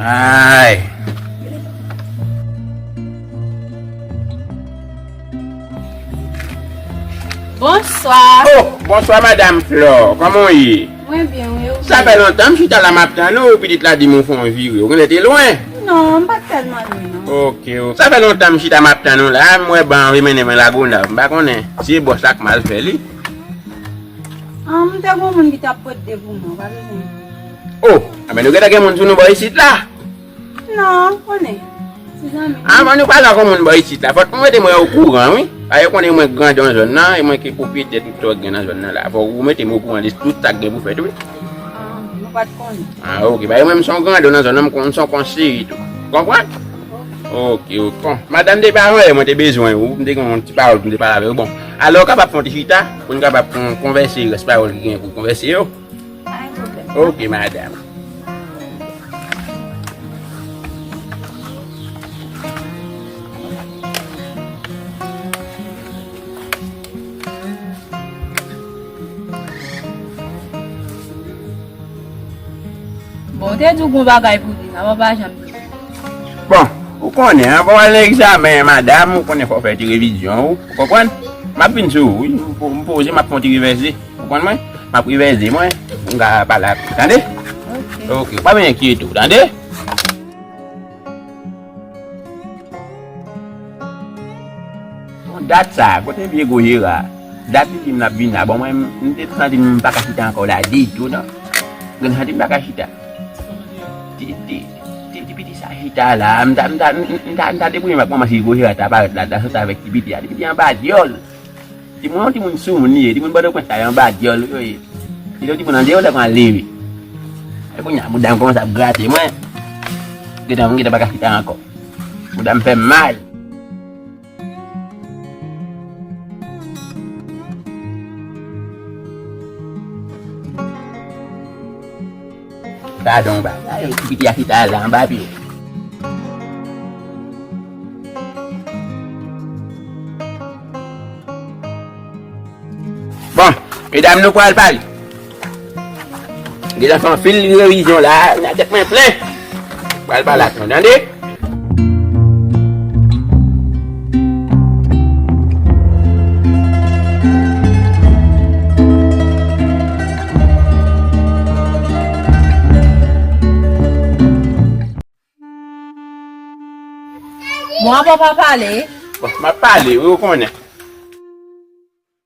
Ayy. Bonswa. Oh bonswa madam Flore, koman w ye? Mwen byen wi, ou menm? Sa fè lontan m chita la map tann ou, pitit la di m ou fon vire, ou konn e te lwen? Non, m pat tèlman lwen non. Ok ok, sa fè lontan m chita map tann ou la, m wè ban anvi mennen mwen Lagonav, m pa konnen si e bòs la k mal fè li. An, m te gon moun ki tap pot de pou mwen, ou pa bezwen. Oh! Enben nou gentan gen moun sou nou bò isit la? Non, ou konnen. Se zanmi m. Anvan nou pale ak yon moun bò isit la, fòk nou mete mwen okouran wi. Paske yo konnen mwen grandon zòn nan, e mwen ki pwopriyetè tout sa ki gen nan zòn nan la. Fòk ou mete m okouran de tout sa ki gen pou fèt wi. Ah, mwen pa t konnen. Ah ok. Paske mwen m son grandon nan zòn nan, m konn son konseye tou. Ou konprann? Ok. Ok, ok. Bon, madanm te pa anyen, mwen te bezwen ou. M te gen yon ti pawòl pou m te pale avè ou. Bon, alò kapab fè yon ti chita pou n kapab konvèse rès pawòl ki gen pou konvèse yo? Ok madam. Bon, te di w gon bagay pou di, sa wap pa janm di. Bon, ou konnen, anvan w al nan egzamen, madam, ou konnen fò w fè ti revizyon ou, ou konprann? M ap vin sou ou wi, m poze, m ap fè yon ti revèse. Ou konn mwen? M ap revèze mwen pou m ka pale ak ou. Tande? Ok. Ou pa byen enkyete ou. Tande? Bon, dat sa a, kote vye gwo jera a? Dat li di m l ap vin la. Bon, mwen m te santi m pa ka chita ankò la ditou non. Mwen te santi m pa ka chita. Ti, ti, ti, ti piti sa chita la a. M ta, m ta, m ta, m ta debwouye m ak manman si gwo jera ta parèt la, l ta soti avèk ti piti a. Ti piti a anba dyòl. Ti moun ti moun sou moun li ye, ti moun bòdò pwent la yo anba dyòl yo ye. Kite yon ti moun andeyo lè pran ale ui. E kounya boudam kòmanse ap grate mwen. Gentan mwen gentan paka chita ankò. Boudam fèm mal. Gadon bagay ti piti a chita la anba pye. Bon medam nou pral pale. Deja fanfil revizyon la nan tèt mwen plen. Pral pale ak nou tande. Mwen pa pa pale. Mwen pa pale, ou konnen.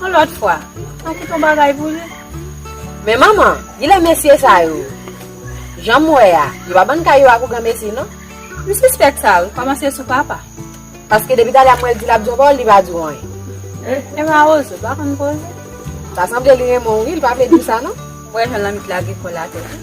Yon lòt fwa, mwen ki t yon bagay pou li. Men manman, gin lè mesye sa yo, jan m wè a, yo pa ban kay yo a pou granmesi non. M sispèk sa wi, kòmanse sou papa. Paske depi talè a m wè l di l ap di yon pawòl, li pa di w anyen. E Mawozo, pa konn koze? Ta sanble li renmen w wi, li pa vle di w sa non. M wè jan lanmit lage kò l atè tou.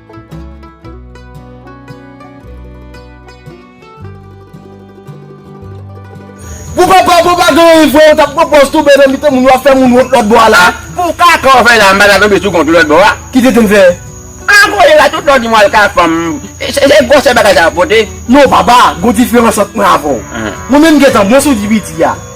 Pou papa pou pa gen wi vre ou tap pran pòz toube nan mitan moun wap fè moun wont lòt bò a la. Pou kaka ou fè la mpa ta tonbe sou kont ou lòt bò a. Ki tenten fè? A koze sa tout lè w di mwen al ka fanm se gwosè bagay sa ap pote. Non papa gon diferans ant mwen avèw. Mwen menm gentan bon sou di piti a.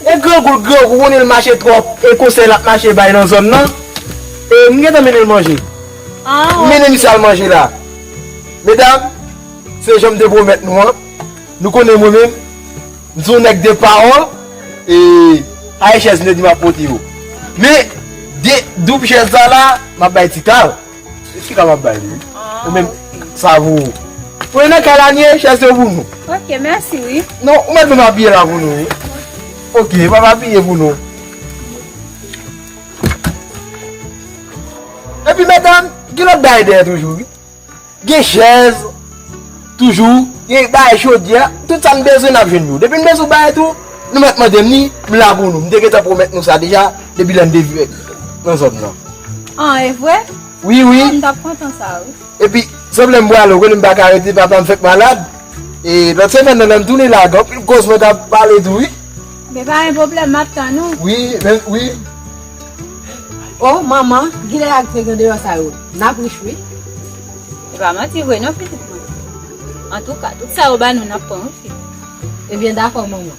E grangou grangou konnen l mache trop e konsèy lap mache bay nan zòn nan e m gentan mennen l manje m mennen misye al manje la medam se janm te pwomèt nou an nou konnen mwen menm m son nèg de pawòl e pa e chèz m te di map pote yo men de doub chèz sa la map bay tikal. Fi ka wap bay li wi. Ou menm sa vou. Ou e nan kay la nie chèz yo pou nou. Ok mèsi wi. Non ou mèt menm abiye la pou nou wi. Ok map abiye pou nou. Epi medanm gen lòt bagay dèyè toujou wi. Gen chèz. Toujou Gen bagay chodyè Tout sa n bezwen nap jwenn yo Depi m bezwen w bagay tou Nou mèt mande m li M la pou nou M te gentan pwomèt nou sa deja Depi lè n te vin Nan zòn nan An e vre Wi wi An m tap kontan sa wi Epi Sèm lè m pwale w konnen m paka rete Papa m fèk malad E lòt semèn nan lè m tounen la Gen anpil koz mwen ta pale tou wi Gen pa gen pwoblèm map tann ou Wi men wi Oh manman Gilè ak Diego deyò sa yo Nap rich wi. E pa manti vre non pitit mwen. Antouka, tout sa yo ba nou nap pran wi pitit. Ebyen dakò manman.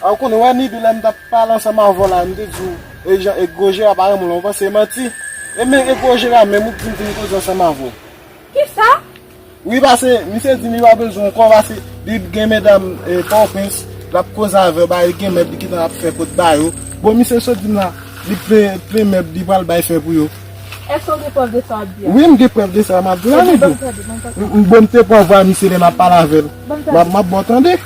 Ou konn wè Niby lèm tap pale ansanm avèw la m te diw e jan egro Jera pa renmen w la ou panse e manti e men egro Jera menm ou k vin finn koze ansanm avèw. Kisa? Wi pase misye di li pa bezwen w kò pase li gen medam pòwpens lap koze avèw ba li gen mèb li gentan ap fè pot ba yo bon misye sot dim la li plen mèb li pral bay fè pou yo. Eske ou gen prèv de sa wap di a? Wi m gen prèv de sa map di la nèg yo. Bon m te pran vwa misye lè map pale avèl. Map baw tande.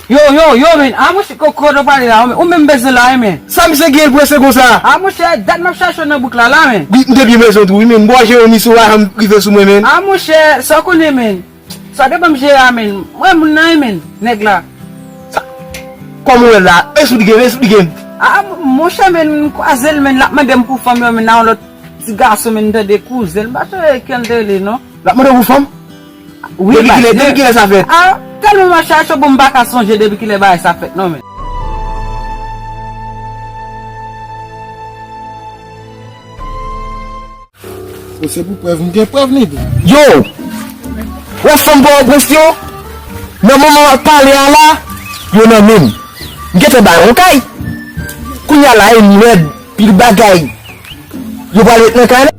Yo yo yo men a mouche ko kote wap pale la ou menm bezwen la wi men. Sa misye gen l prese konsa. A mouche dat map chache w nan bouk la la men. M te byen bezwen tou wi men. M bò je yo misye ou pa janm rive sou mwen men. A mouche sa w konnen men. Sa depan m jere a menn. M wè moun nan e menn nèg la. Sa Kòm ou wè l la a es ou li gen es ou li gen. A monchè menn m kwaze l menn l ap mande m pou fanm yo menn nan yon lòt ti gason menn m tande kouzen l m pa tande kè l te rele non. L ap mande w pou fanm? Wi baz. Depi kilè sa fèt? A tèlman mache a cho bon m pa ka sonje depi kilè bagay sa fèt non menn. Ou se pou prèv, m gen prèv li di. Yo! Wè fanm pò o prens yo? Nan moman wap pale a la, yo nan menm. M gen tan bay on kay. Kounye a la e m lèd, pil bagay. Yo pral ret nan kay la.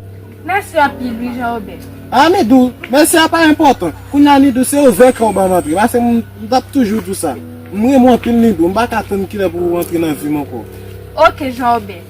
Mèsi anpil wi Jean Robert. A Nidou, mèsi a pa enpòtan. Kounye a Nidou, se ouvè kè w ban m antre. Pase m tap toujou di w sa. M renmen w anpil Nidou. M pa ka tann kilè pou ou antre nan vi m ankò. Ok Jean Robert.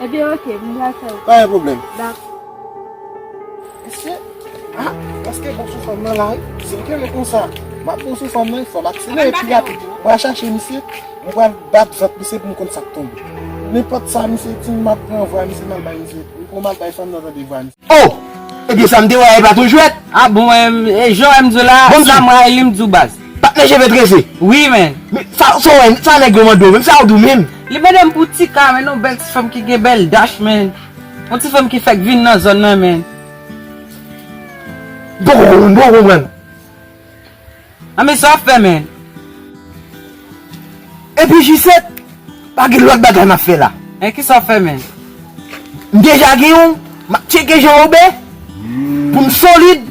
Ebyen ok, m pral fè l. Pa gen pwoblèm. Dakò. Mesye, ah, paske bon sou fanm nan la wi. Si m kenbe konsa, m ap bon sou fanm nan, fò m akselere pi rapid. M pral chache misye, m pral bat vant misye pou m konn sa k tonbe. Nenpòt sa misye di m, m ap pran vwa misye m al bay misye. M pran m al bay fanm nan tande vwa misye. Oh! Ebyen sa m te wè a e pa t yon jwèt. Ah bon e jan wè m di w la, sa m rayi li m di w baz. Patnè cheve trese? Wi menn. Men sa w wè, sa nèg yo mande w menm, sa w di w menm? Li mande m pou Tika menn, yon bèl ti fanm ki gen bèl dach menn. Yon ti fanm ki fèk vin nan zòn nan menn. M poko konprann, m poko konprann. Nan men sa fè men. Epi G7 pa gen lòt bagay map fè la. Men kisa fè men. M deja gen yon, map tcheke Jean Robert pou m solid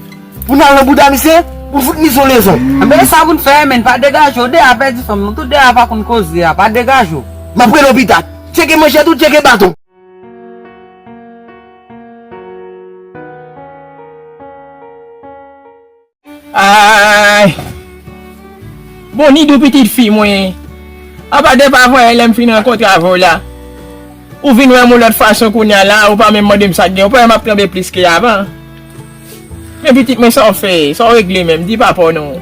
pou n al nan bouda misye pou n fout misye yon lezon. Anben sa pou n fè men pa degaje w de a pèdi fanm nou tou de a pa konn koze a pa degaje w. Map rele w pita. Tcheke manchèt ou tcheke baton. Ayy Bon ni dou pitit fi mwen Apa de pa voye lèm fin rankontre avè w la Ou vin wèm yon lòt fason kounya la ou pa menm mande m sak gen ou pa wè map tranble plis ke avan Men pitit mwen sa w fè sa w regle menm di papa w non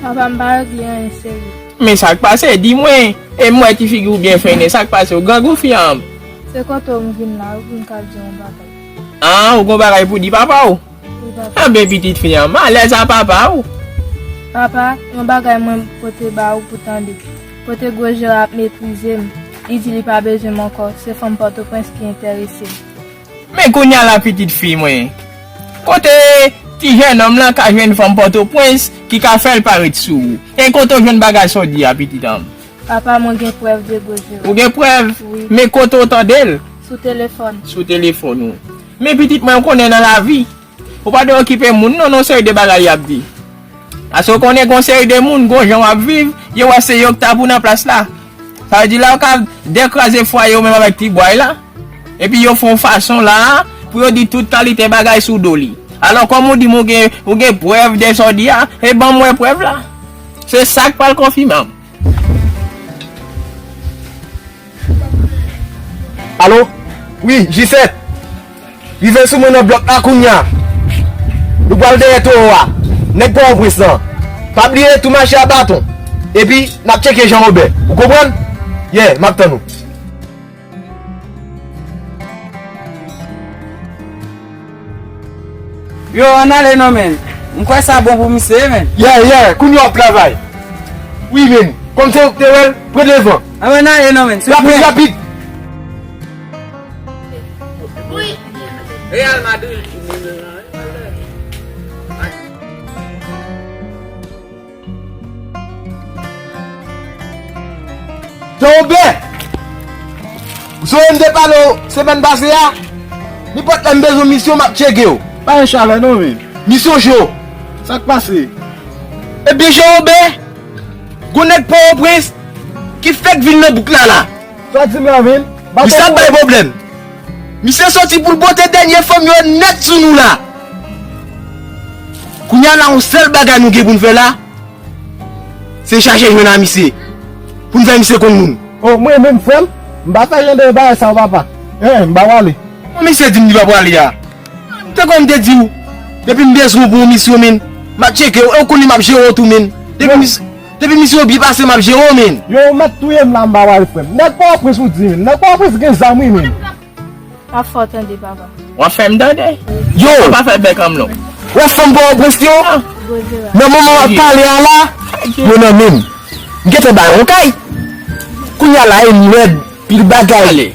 Papa m pa regle anyen seri Men sak pase di mwen e m wè ti figi w byen fennen sak pase w grangou fi an Se kote w m vin la wi pou m ka di w yon bagay An ou gen yon bagay pou di papa w. Anben pitit fi an, malèz a papa ou! Papa, yon bagay mwen pote ba ou pou tande. Kote gwo je a ap meprize m, li di li pa bezwen m ankò, se fanm Pòtoprens ki enterese l. Men kounye a la pitit fi mwen, kote ti jènòm lan ka jwenn fanm Pòtoprens ki ka fè l pa ret sou ou? E kote ou jwenn bagay sa w di a pitit an m? Papa, mwen gen prèv de gwo je ou. Ou gen prèv? Wi. Men kote ou tande l? Sou telefòn. Sou telefòn ou. Men pitit mwen ou konnen nan lavi ou pa dwe okipe moun non nan seri de bagay yap di paske ou konnen gon seri de moun gon jan wap viv yo wè se yo ki ta pou nan plas la sa vle di la ou ka de kraze fwaye ou menm avèk ti bway la epi yo fon fason la pou yo di tout kalite bagay sou do li alò kòm ou dim ou gen prèv de sa ou di a e banm wè prèv la se sak pral konfimanm. Alo wi G7 Rive sou mwen nan blòk la kounya Nou pral dèyè towo a Nèg pò o prens lan Pa bliye tou mache a baton Epi nap tcheke Jean Robert Ou konprann Yeah map tann ou. Yo an ale non men. M kwè sa bon pou misye men. Yeah yeah kounye wap travay wi menn kòm se ou ki te wèl pran devan. Anbyn ale non menn souple. Rapid rapid. Real Madrid. Tobe! Zoe m te pale w semèn pase a, nenpòt lè m bezwen misyon m ap tcheke w. Pa gen chalè non men. Misyon cho. Sa k pase? Ebyen Jewobe, gon nèg Pòwoprens ki fèk vin nan bouk la la. Sa w di m la menm? Misyon ap bay pwoblèm. Misye soti poul pote dènye fanm yo nèt sou nou la. Kounya la yon sèl bagay nou gen poun fè la se chache jwenn a misye poun fè misye konn moun. Oh mwen menm frèm m pa fè jan de bagay sa yo papa eh m pa pwale. Bon misye dim li pa pwale a m te konn m te diw depi m bezwen w pou yon misyon min map tcheke w e w konnen map jere w tou min depi misye. Depi misye yo byen pase map jere w menn. Yo ou mèt touyem la mpa wèl frèm. Nèg pòtoprens ou di menm. Nèg pòtoprens gen zam wi menn. Pa fò tande papa. Wap fèm tande. Yo. Ou pa fè bèk anmloo. Wè fanm pòtoprens yo. Nan moman wap pale a la. Yo nan menm. M gentan bay roukay. Kounya la e lèd pil bagay.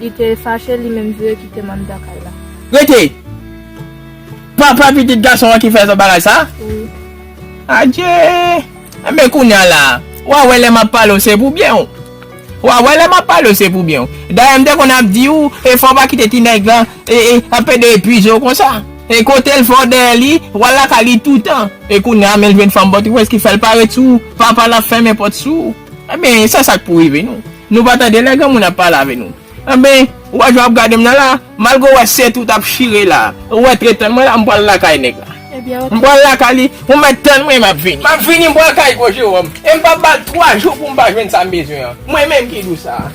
Li te fache li menm vire kite m anndan kay la. Rete! Papa pitit gason an ki fè zot bagay sa? Wi. Adje! Enben kounya la, wa wè lè m ap pale w se pou byen w. Wa wè lè m ap pale w se pou byen w. Dayè m te konn ap di w e fò w pa kite ti nèg lan e e ap ede epize w konsa. E kote l fè w dèyè li, w al lakay li toutan. E kounya men l jwenn fanm bòt ou wè s ki fè l pa ret sou ou. Papa l ap fèmen pòt sou ou. Enben, sa sa k pou rive nou? Nou pa tande lè granmoun ap pale avè nou? Enben, ou wè jan w ap gade m nan la a? Malgre ou wè sèt ou t ap chire la a, ou antre tann mwen la a, m pral lakay nèg la. M pral lakay li, ou mèt tann mwen, m ap vini. M ap vini, m pral kay gwo Jewòm e m pap ba l twa jou pou m pa jwenn sa m bezwen an, mwen menm ki di w sa a.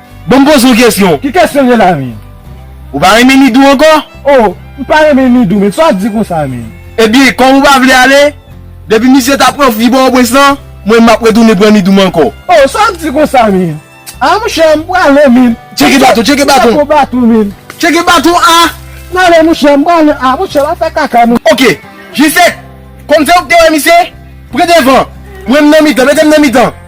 Bon m poze w kesyon. Ki kesyon gen la menm? Ou pa renmen Nidou ankò? Oh, m pa renmen Nidou menm, sa w di konsa menm? Ebyen, kòm ou pa vle ale, depi misye ta pran fi Pòtoprens lan, mwen menm m ap retounen pran Nidou m ankò. Oh, sa w di konsa menm? Ah mouche, m prale menm. Tcheke baton, tcheke baton. Tcheke baton menm. Tcheke baton a! M prale mouche, m prale. Ah mouche, la fè kaka mouche. Ok, Jisèt, kòm se ou ki te wè misye, pran devan, mwen m nan mitan, mete m nan mitan.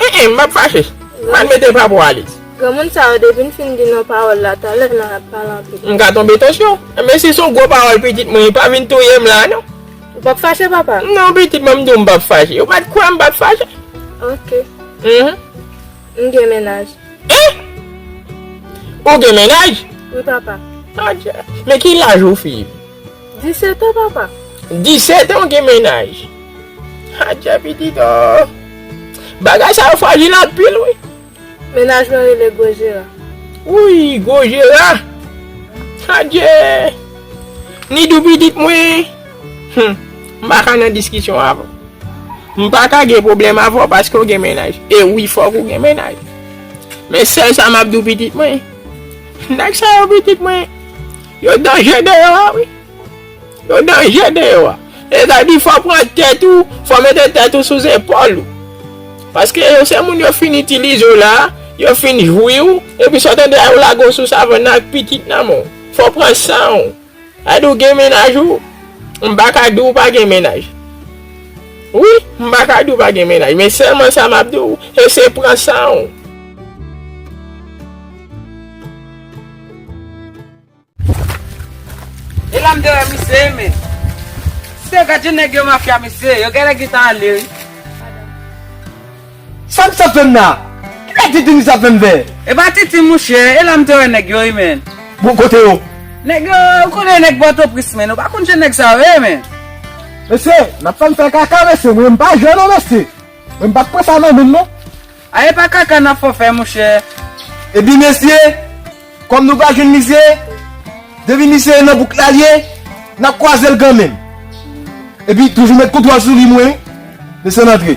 Eh eh map fache. Mal mete pa pou Alix. Granmoun sa yo depin fin di non pawol la talè nan yap pale anpil. M ka tonbe tansyon. Men si son gwo pawol pitit mwen pa vin touyem la non. Ou pap fache papa? Non pitit mwen m di w m pap fache. Ou pat kwè m pap fache? Ok. Mph. M gen mennaj. Eh! Ou gen mennaj? Wi papa. Adjee. Men ki laj ou fi? 17 ans papa. 17 ans w gen mennaj. Adje pitit oo. Bagay sa yo frajil anpil wi. Mennaj mwen rele gwo jera. Wouyy gwo jera. Adje. Nidou pitit mwen. Hum. M pa ka nan diskisyon avè w. M pa ka gen pwoblèm avè w paske w gen mennaj. E wi fòk ou gen mennaj. Men sèl sa m ap di w pitit mwen. Nèg sa yo pitit mwen. Yo danje deyò a wi. Yo danje deyò a. E sa di fò pran tèt ou, fò mete tèt ou sou zepòl ou. Paske yo se moun yo fin itilize ou la, yo fin jwi ou, epi sa w tande a yo lage w sou savann nan ak pitit nan men w. Fò pran san ou. Sa di w gen mennaj ou, m pa ka di w pa gen mennaj. Wi, m pa ka di w pa gen mennaj, men sèlman sa m ap di w, e se pran san ou. Elam dèyè misye wi men. Sè gad jan nèg yo mafya mesye yo genlè gentan ale wi. Sa misye ap fèm la? Kisa tintin misye ap fèm fè? Epa tintin mouche, elam te wè nèg yo wi men. Bon kote yo? Nèg yo, ou konnen nèg pòtopris men, ou pa konn jan nèg sa yo ye men. Mesye, nap fèm fè kaka mesye, mwen pa jwe non mesye. Mwen pat pran sa nan menm non. Ah epa kaka nap fò fè monchè. Ebyn mesye kòm nou pa jwenn misye depi misye e nan bouk lal ye nap kwazel kanmenm epi toujou met kontwòl sou li mwen desann antre.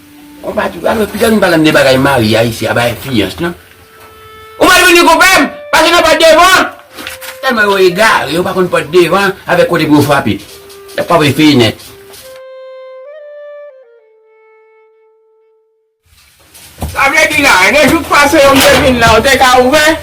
Konpa tou alo pito nou palan de bagay marya isi aba enfliyans non. Ou mal vini konpèm pase nan pòt devan. Tèlman yo egare yo pa konn pòt devan avèk kote pou yo frape. Yap frape fenèt. Sa vle di la, gen jou k pase yo m te vin la ou te ka ouvè?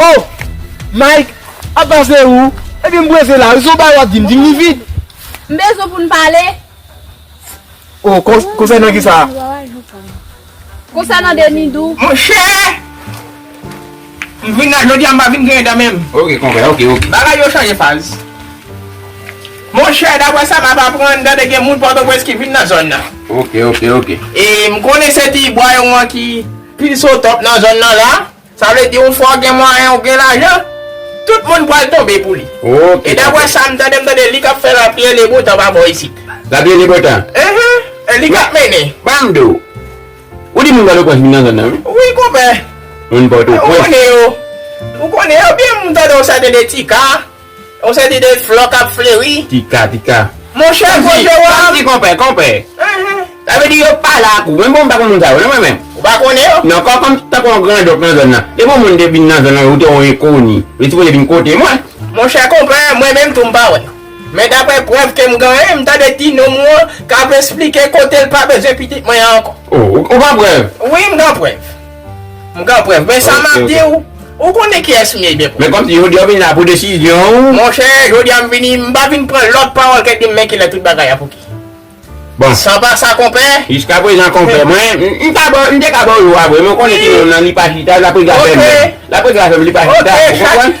Oh! Mike, ap pase ou? Epi m prese la wi, se yon bagay w ap di m, di m li vid. M bezwen pou n pale. Oh konsènan kisa? Konsènan Demidou. Monchè! M vin la jodi a m pa vin griyen dan menm. Ok konpè ok ok. Bagay yo chanje faz. Monchè daprè sa m ap aprann m tande gen moun Pòtoprens ki vin nan zòn nan. Ok ok ok. E m konnen se ti bwa yo an ki plis otòp nan zòn nan la. Sa vle di yon fwa w gen mwayen w gen lajan, tout moun pral tonbe pou li. E dapre sa m tande m tande li k ap fè lapye le bon tan pa bò isit. Lapye le bon tan? Enhen, e li k ap mennen. Ba m di w, ou di moun Pòtoprens vin nan zòn nan wi. Wi konpè. Moun Pòtoprens. Ou konnen yo. Ou konnen yo byen m tande w sa gen de Tika. Yon seri de flò k ap fleri. Tika, tika. Monchè, monchè wa. Sa vle di konpè, konpè. Sa vle di yo pale ak ou. Mwen menm m pa konn moun sa yo non mwen menm. Ou pa konnen yo? Non, kòm m tankou yon grandonk nan zòn nan. Depi yon moun te vin nan zòn nan, ou te yon enkoni. Li sipoze vin kote mwen. Monchè konpè, mwen menm tou m pa wè. Men daprè prèv ke m genyen, m tande ti nonm ou an k ap esplike kote l pa bezwen pitit mwen an ankò. O, ou gen prèv? Wi, m gen prèv. M gen prèv. Men sa m ap di w, ou konnen kiyès m ye byen pwòp. Men kòmsi jodi a w vin la pou desizyon w. Monchè, jodi a m vini, m pa vin pran lòt pawòl ke di m men kilè tout bagay a pouki. Bon. San pa sa konpè. Jiska prezan konpè, mwen, m ta ba w, m te ka ba w jou a vre men ou konnen timoun nan li pa chita, laprès la fèm, laprès la fèm li pa chita, ou konprann?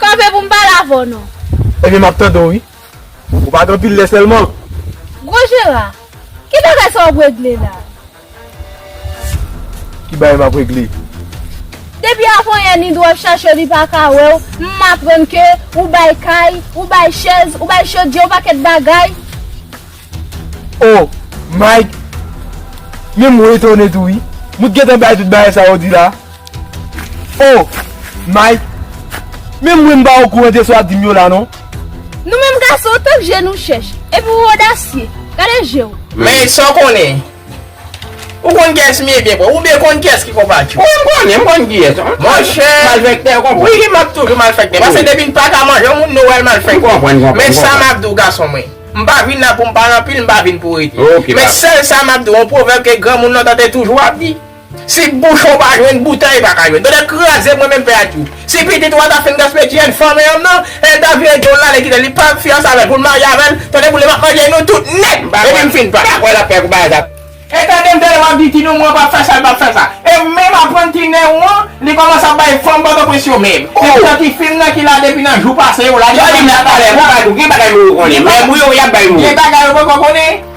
Kanpe pou m pale avè w non. Ebyen m ap tande w wi. Ou pa gen anpil lè sèlman? Gwo Jera, ki bagay sa w ap regle la? Ki bagay m ap regle? Depi avanyè Nido ap chache w li pa ka wè w, m aprann ke ou bay kay, ou bay chèz, ou bay chodyè, yon pakèt bagay. Oh my Menm mwen etone tou wi Mwen t gentan bay tout bagay sa ou di la Oh my Menm mwen m pa okouran de sa wap dim yo la non. Nou menm gason tank je nou chèch epi ou odasye gade jew. Men sa w konnen. Ou konn kiyès m ye byen pwòp? Oubyen konn kiyès ki konpa t yo? Wi m konnen, m konn kiyès. Monchè, malfèktè konpa. Wi m ap toujou malfèktè. Paske depi n pa ka manje yon moun nou wè l malfèktè. M konprann konpa. Men sa m ap di w gason mwen. M pa vin la pou m pale anpil, m pa vin pou rete. Men sèl sa m ap di w, yon pwovèb ke granmoun lontan te toujou ap di. Si bouchon pa jwenn boutèy pa ka jwenn tonnè kraze mwen menm pè ak tou si pitit wa ta fin gaspiye ti jèn fanm eyanm nan el ta vire dol la le kite li pa fiyanse avèl poul marye avèl tonnè boulem ap manje nou tout nèt depi m fin pa kwè lap fè kou bagay sa. E tandem tande wap di ti noumou an pap fè sa li pap fè sa e menm aprann ti nen ou an li komanse ap bay fanm pòtoprens yo menm se pou santi film nan ki la depi nan jou pase yo la gen bagay yo poko konnen.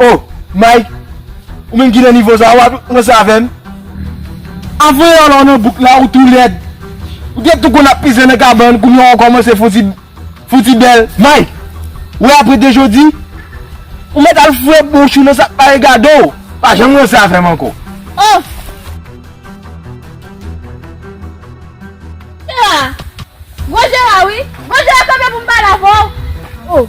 Oh Mike ou menm ki nan nivo sa ou ap ranse avèm? Avan yon lò nan bouk la ou tou lèd ou te tou konn ap pise nan kabann kounye a ou kòmanse fon ti fon ti bèl Mike wè apre de jodi ou mèt al foure bouch ou nan sak pa regade w pa janm ranse avèm ankò oh. Jera Gwo jera wi Gwo jera kanpe pou m pale avè w oh.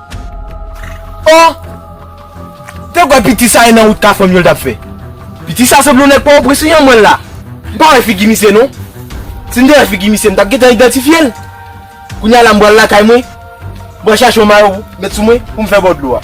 Oh! Te kwè piti sa e nan wout kafranm yo l tap fè. Piti sa sanble yon nèg pòwoprens wi anmweyy la. M pa wè figi misye non. Si m te wè figi misye m tap gentan idantifye l. Kounye a la m pral lakay mwen. M pral chache yon mayo pou met sou mwen pou m fè bò dlo a.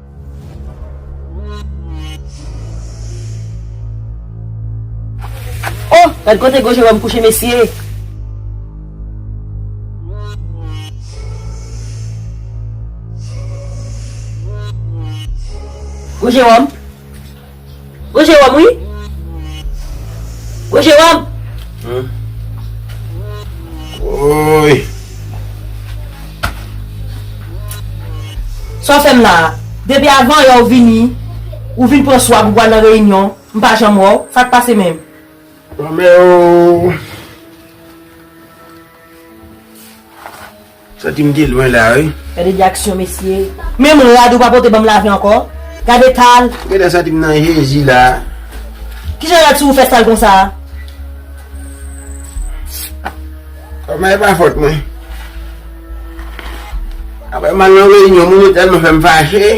Oh! Gad kote gwo Jeròm kouche mesye! Gwo Jeròm! Gwo Jewòm wi Gwo Jewòm Woy Sa w fè m la a? Depi avan yè w vini Ou vin pran swa pou pral nan reyinyon M pa janm wè w Sa k pase menm? Lanmè o. Santim te lwen la wi. Gade de aksyon mesye. Menm rad ou pa pote banm lave ankò. Gad etal. Ou gentan santim nan jezi la. Kijan rad sou ou fè sal konsa a. Kòman e pa fòt mwen. Aprè mal nan reyinyon moun yo tèlman fèm fache.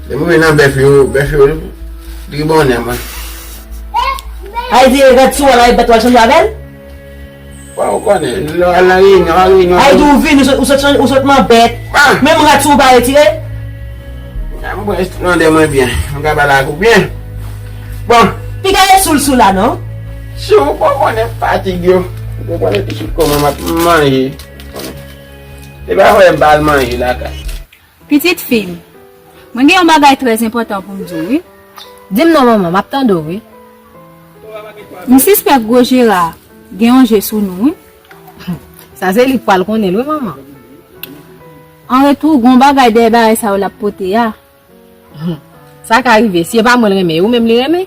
Lè mwen vin nan bèf yo, bèf yo tribòne mwen. Ay vire rad sou ou al rayi bèt ou al chanje avèl. Wè ou konnen lè al nan reyinyon an reyinyon an. Aydou vin ou sot manbèt. Menm rad sou ou pa retire. Mwen konprann esplande mwen byen. Mwen ka pale ak ou byen. Bon. Piga yo soul sou la non. Si ou pa konnen fatig yo. Ou pa konnen pitit kòman map manje. Ou konnen. Se pa vre m pa al manje lakay. Pitit fi m, mwen gen yon bagay trè enpòtan pou m di w wi. Di m non manman, m ap tande w wi. M sispèk gwo Jera gen yon je sou nou wi. Sa se li k pral konnen l wi manman. An retou, gen yon bagay dèyè bagay sa yo l ap pote a. Sa ka rive, si e pa mwen l renmen, e ou menm li renmen?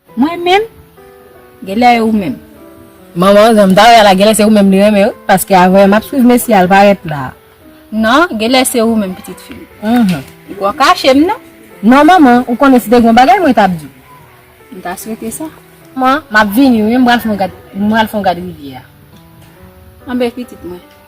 Mwen menm? Genlè e ou menm? Manman, jan m ta wè a la genlè se ou menm li renmen wi paske avè m ap swiv mesye a l parèt la a. Non, genlè se ou menm pitit fi m. Mph. Ou poko kache m non? Non manman, ou konnen si te gen yon bagay mwen t ap di w. M ta swete sa. Manman, m ap vini wi m pral fè yon gad rivyè a. Anben pitit mwen.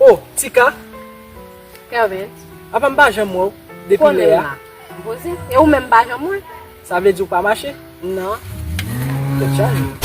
Oh Tika! Hervé. Apa m pa janm wè w depi lè a? Konelma. M poze. E ou menm m pa janm wè? Sa vle di ou pa mache? Non. Tèt chaje.